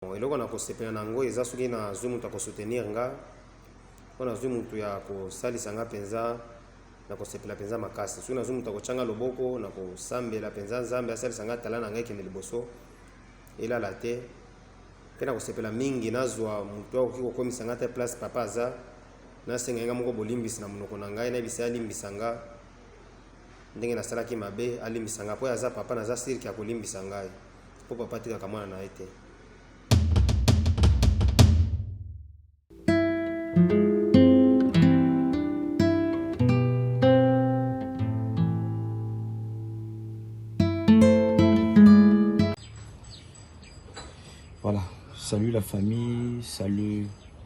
Bon, eloko na kosepela na yango eza soki nazwi moto ya kosoutenir nga mpo nazwi moto ya kosalisa nga mpenza na kosepela mpenza makasi soki nazwi moto ya kotyanga loboko na kosambela mpenza nzambe asalisa nga tala na ngai ekende liboso elala te mpe na kosepela mingi nazwa moto akoki kokomisa nga te place papa aza nasengai nga moko bolimbisi na monoko na ngai nayebisa alimbisa nga ndenge nasalaki mabe alimbisa nga mpo aza papa naza sirke akolimbisa ngai mpo papa atikaka mwana na ye te Voilà, salut la famille, salut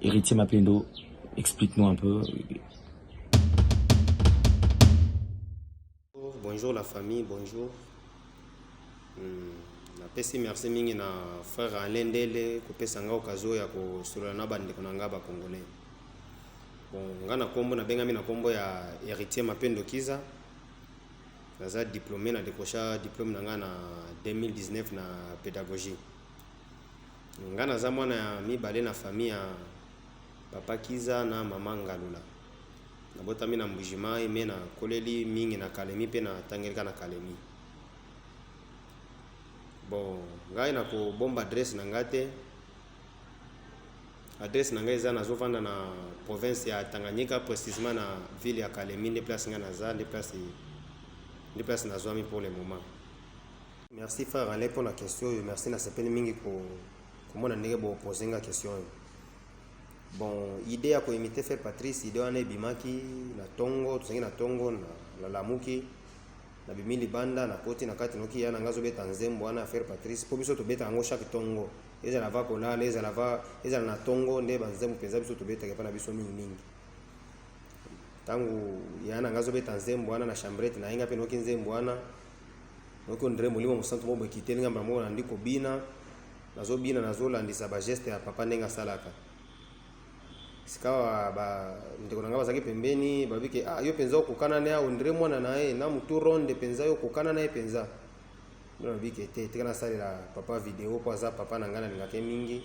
Héritier Mapendo, explique-nous un peu. Bonjour la famille, bonjour. Hmm, napesi merci mingi na frère Alain Ndele kopesa nga occasion ya kosolola na bandeko na nga bacongolais. Bon, nga na kombo nabengami na kombo ya Héritier Mapendo Kiza. Naza diplômé na décrocha diplôme na nga na 2019 na pédagogie. Nga naza mwana ya mibale na famille ya papa Kiza na maman Ngalula. Nabotami na Mbuji Mayi mais na koleli mingi na Kalemi pe na tangelika na Kalemi. Bon, ngai na ko bomba adresse na nga te. Adresse na nga eza nazo vanda na province ya Tanganyika precisement na ville ya Kalemi nde place nga naza nde place nde place nazwami pour le moment. Merci frère Alain pour la question. Merci na sepeli mingi ko komona ndenge bo poser nga question. Bon, idée ya ko imiter frère Patrice, idée wana ebimaki na tongo, tozangi na tongo na la lamuki na bimi libanda na koti na kati noki ya na ngazo beta nzembo wana frère Patrice. Po biso tobeta yango chaque tongo. Ezala va kolala, ezala va ezala na tongo nde ba nzembo penza biso tobeta ke pa na biso mingi mingi. ntango yana nga azobeta nzembo wana na chambrete na ye nga mpe noki nzembo wana Noko Ndre Molimo Mosantu Mobo ekiteli nga mbala moko na ndiko bina nazo bina nazo landisa ba geste ya papa ndenge asalaka sikawa ba ndeko na nga bazaki pembeni babi ke ah yo penza okokana na ya Andre mwana na ye na mutu ronde penza yo okokana na ye penza ndio nabi ke te tika nasalela papa video po aza papa na nga nalingaka ye mingi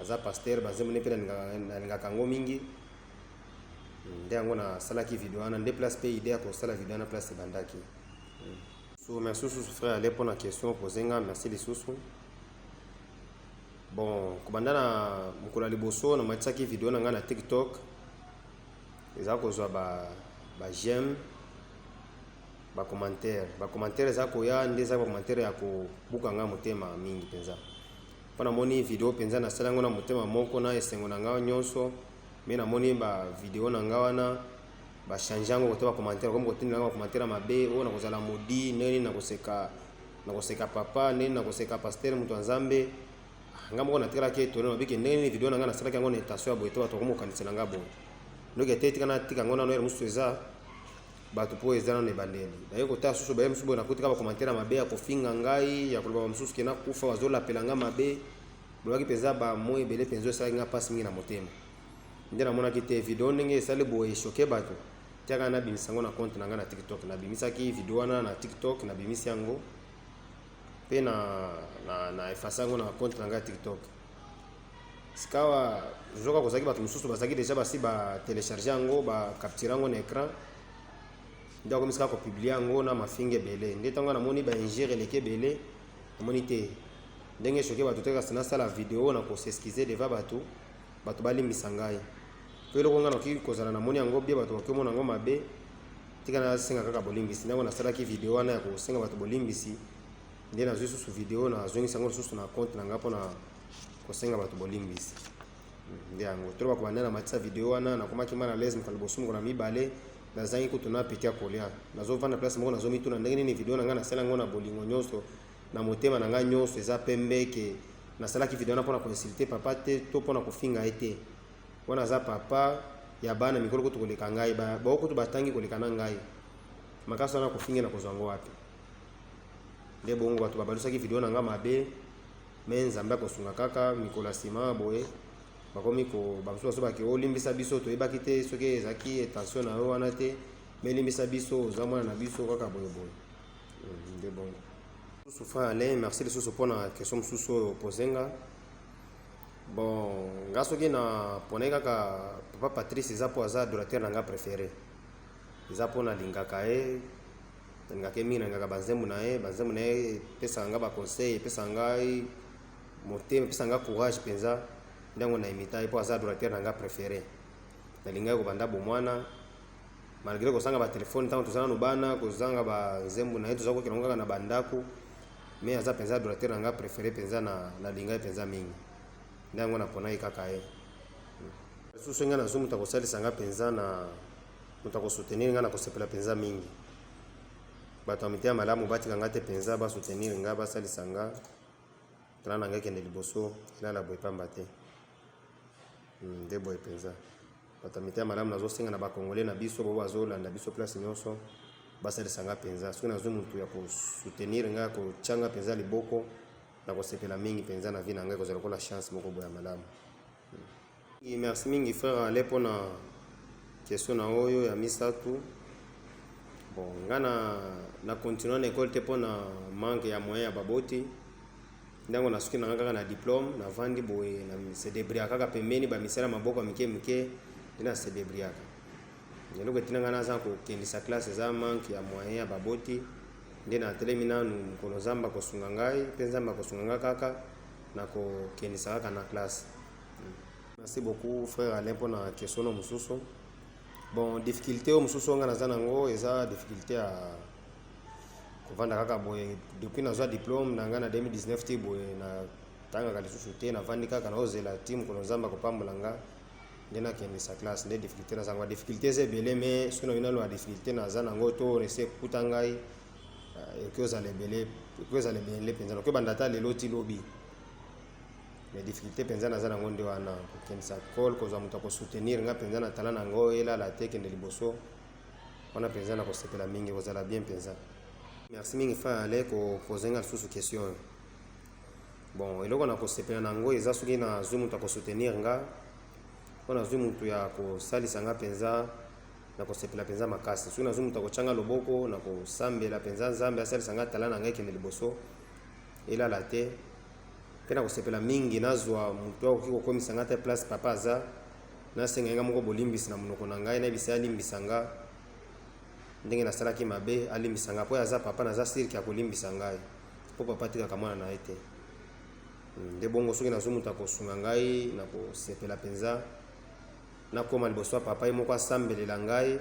aza pasteur banzembo ne mpe nalingaka yango mingi nde yango nasalaki video wana nde place mpe idee ya kosala video wana place ebandaki So merci lisusu frère ale mpo na question opose nga merci lisusu bon kobanda na mokolo ya liboso namatisaki video na ngai na tiktok eza kozwa ba, ba j'aime bacommentaire bacommentaire eza koya nde eza bacommentaire ya kobuka ngai motema mingi mpenza mpo namoni video mpenza nasala yango na motema moko na esengo na ngai nyonso me namoni bavideo na ngai wana ba change yango kote ba commentaire comme kotinda ba commentaire mabe oyo nakozala modi nini nakoseka nakoseka papa nini nakoseka pasteur moto ya nzambe ah, nga moko natikalaki etone nabi ke ndenge nini video na nga nasalaki yango na intention ya boye te bato bakomi kokanisela nga boye noki ete etika natika yango nano ere mosusu eza bato mpo eza nano ebandeli naye kotala susu baye mosusu boye nakotika ba commentaire ya mabe ya kofinga ngai ya koloba mosusu ke nakufa bazolapela nga mabe bolobaki mpenza bamoi ebele mpenza esalaki nga mpasi mingi na motema nde namonaki te video ndenge esali boye echoke bato tiaka nabimisa yango na compte na ngai na tiktok nabimisaki video wana na tiktok nabimisi yango mpe na, na, na efasa yango na compte na ngai ya tiktok sikawa zoka kozalaki bato mosusu bazalaki deja basi batelecharge yango bacapture yango na écran nde akomisi kaka kopublie yango na mafinga ebele nde ntango namoni baingere eleki ebele namoni te ndenge soki bato te kasi nasala video na koseskize deva bato Bato balimbisa ngai mpo eloko ngai nakoki kozala namoni yango bie bato bakoki omona yango mabe tika nasenga kaka bolimbisi ntango nasalaki video wana ya kosenga bato bolimbisi nde nazwi susu video nazongisi yango lisusu na compte na ngai mpo na kosenga bato bolimbisi hmm, nde yango tolo bakobanda na matisa video wana nakomaki mal alaise mokolo liboso mokolo na mibale nazangi kutu na peti ya kolia nazovanda place moko nazomituna ndenge nini video na ngai nasala yango na bolingo nyonso na motema na nga nyonso eza pembe ke nasalaki video wana pona ko insulter papa te to pona kofinga ye te wana aza papa ya bana mikolo kutu koleka ngai ba bao kutu batangi koleka na ngai makasi wana kofinga na kozwa ngo wapi nde bongo bato babalusaki video na nga mabe me nzambe akosunga kaka mikolo ya nsima boye bakomi ko bamosusu basobaki olimbisa oh, biso toyebaki te soki ezalaki intention na yo wana te melimbisa biso oza mwana na biso kaka boyeboye nde bongo lisusu fin alain merci lisusu mpo na question mosusu oyo opose nga bon nga soki na ponai kaka papa patrice eza mpo aza adorateur na nga préféré eza mpo nalingaka ye nalingaka ye mingi nalingaka banzembo na ye banzembo na ye epesaka nga baconseil epesaka ngai motema epesaka nga courage mpenza ntango na imita ye mpo aza adorateur na nga préféré nalingaki kobanda bomwana malgre kozanga batelefone ntango toza nano bana kozanga banzembo na ye toza kokela ngo kaka na bandako me aza mpenza adorateur na ngai prefere mpenza na, na linga ye mpenza mingi nde yango naponaki kaka ye lisusu ngai nazwi moto akosalisa ngai mpenza na moto akosoutenir ngai na kosepela mpenza mingi bato ya mitema malamu batika ngai te mpenza basoutenir ngai basalisa ngai tala na ngai kende liboso elala boye pamba te hmm, nde boye mpenza Bato ya mitema malamu, nazosenga na ba Congolais na biso bo bazolanda biso place nyonso basalisa nga mpenza. Soki nazwi motu ya kosoutenir nga, kotya nga mpenza liboko, nakosepela mingi mpenza na vie na ngai, ekozala lokola chance moko boye ya malamu. Hmm. Merci mingi frère Ale mpo na question na oyo ya misato. Bon, nga na, na continue na ekole te mpo na manque ya moyen ya baboti ntango nasuki nanga kaka na diplome navandi boye na sedebriaka kaka pembeni bamisala maboko ya mike mike nde na sedebriaka eloko etina ngai naza kokendisa classe eza manke ya moyen ya baboti nde natelemi nanu mokolo nzambe akosunga ngai mpe nzambe akosunga ngai kaka na kokendisa kaka na classe merci beaucoup frère alain mpo na question no mosusu bon difficulté oyo mosusu oyo ngai naza nango eza difficulté ya kovanda kaka boye depuis nazwa diplome na ngai na 2019 ti boye na tangaka lisusu te navandi kaka naozela ti mokolo nzambe akopambola nga nde nakendisa classe nde difficulté naza yango difficulté eza ebele mais soki nayoki naloba difficulté naza nango to nese ekuta ngai euh, ekoki ozala ebele ekoki ozala ebele mpenza nakoki banda ata lelo ti lobi mais difficulté mpenza naza nango nde wana kokendisa cole kozwa moto akosoutenir ngai mpenza na tala nango elala te kende liboso wana penza na kosepela mingi kozala bien penza merci mingi fa ale kopose nga lisusu question oyo bon eloko na kosepela na yango eza soki nazwi moto ya kosoutenir nga mpo nazwi moto ya kosalisa nga mpenza na kosepela mpenza makasi soki nazwi moto ya kotyanga loboko na kosambela mpenza nzambe asalisa nga tala na ngai ekende liboso elala te mpe na kosepela mingi nazwa moto akoki kokomisa nga te place papa aza Nasengaki ngai moko bolimbisi na monoko na ngai, nayebisa ye alimbisa nga ndenge nasalaki mabe, alimbisa nga mpo aza papa, naza sirki akolimbisa ngai mpo papa atikaka mwana na ye te. Hmm, nde bongo soki nazwi moto akosunga ngai, nakosepela mpenza, nakoma liboso ya papa ye moko asambelela ngai,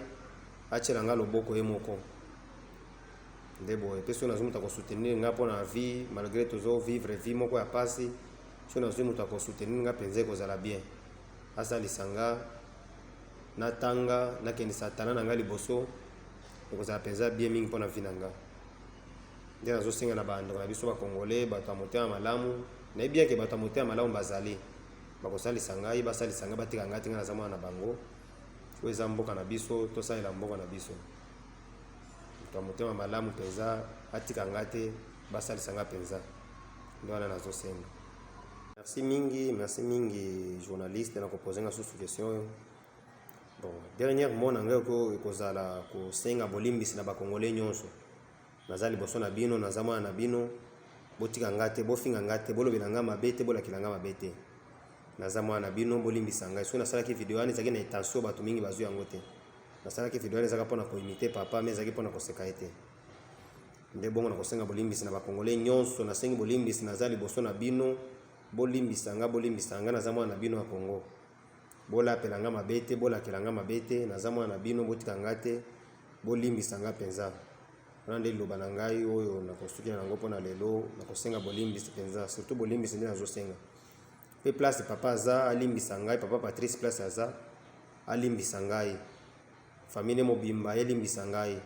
atyela ngai loboko ye moko nde boye mpe soki nazwi moto akosoutenir ngai mpo na vie malgré tozo vivre vie moko ya mpasi soki nazwi moto akosoutenir ngai mpenza ekozala bien asalisa nga natanga nakendisa tala na nga liboso ekozala mpenza bien mingi mpo na vi na nga nde nazosenga na bandeko na biso bakongole bato ya motema malamu nayebi yake bato ya motema malamu bazali bakosalisa ngai basalisa ngai batika ngai tinga naza mwana na bango oyo eza mboka na biso tosalela mboka na biso moto ya motema malamu mpenza atika ngai te basalisa ngai mpenza nde wana nazosenga Merci mingi, merci mingi journaliste na kopose nga susu question oyo. Bon, dernière mot na ngai oko ekozala kosenga bolimbisi na bakongole nyonso. Naza liboso na bino, naza mwana na bino, botika nga te, bofinga nga te, bolobela nga mabe te, bolakela nga mabe te. Naza mwana na bino, bolimbisa ngai. Soki nasalaki video wana ezalaki na intention bato mingi bazwi yango te. Nasalaki video wana ezalaka mpo na koimite papa, mais ezalaki mpo na koseka ye te. nde bongo na kosenga bolimbisi na bakongole nyonso nasengi bolimbisi naza liboso na bino bolimbisa nga bolimbisa nga naza mwana na bino ya kongo bolapela nga mabe te bolakela nga mabe te naza mwana na bino botika nga te bolimbisa nga mpenza wana nde liloba na ngai oyo nakosukela yango mpo na lelo nakosenga bolimbisi mpenza surtout bolimbisi nde nazosenga mpe place papa aza alimbisa ngai papa patrice place aza alimbisa ngai Famille mobimba elimbisa ngai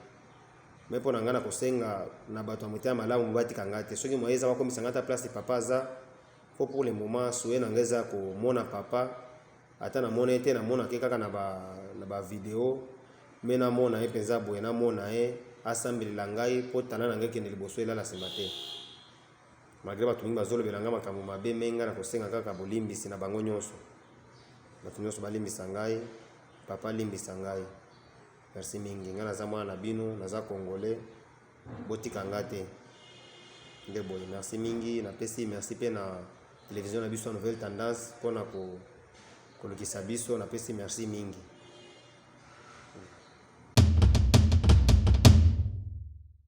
mais pona ngai nakosenga na bato ya motema malamu batika ngai te soki moye eza bakomisa ngai ata place papa aza po pour le moment souye na ngai eza komona papa ata namona ye te namonaka ye kaka na ba, na ba video me namona ye mpenza boye namona ye asambelela ngai mpo tala na ngai ekende liboso elala nsima te malgre bato mingi bazolobela ngai makambo mabe me ngai nakosenga kaka bolimbisi na bango nyonso bato nyonso balimbisa ngai Papa limbisa ngai. Merci mingi. Ngai naza mwana na bino, naza congolais. Botika ngai te. Nde boye, merci mingi. Napesi merci mpe na television na biso ya Nouvelle Tendance mpo na ko kolukisa biso. Napesi merci mingi.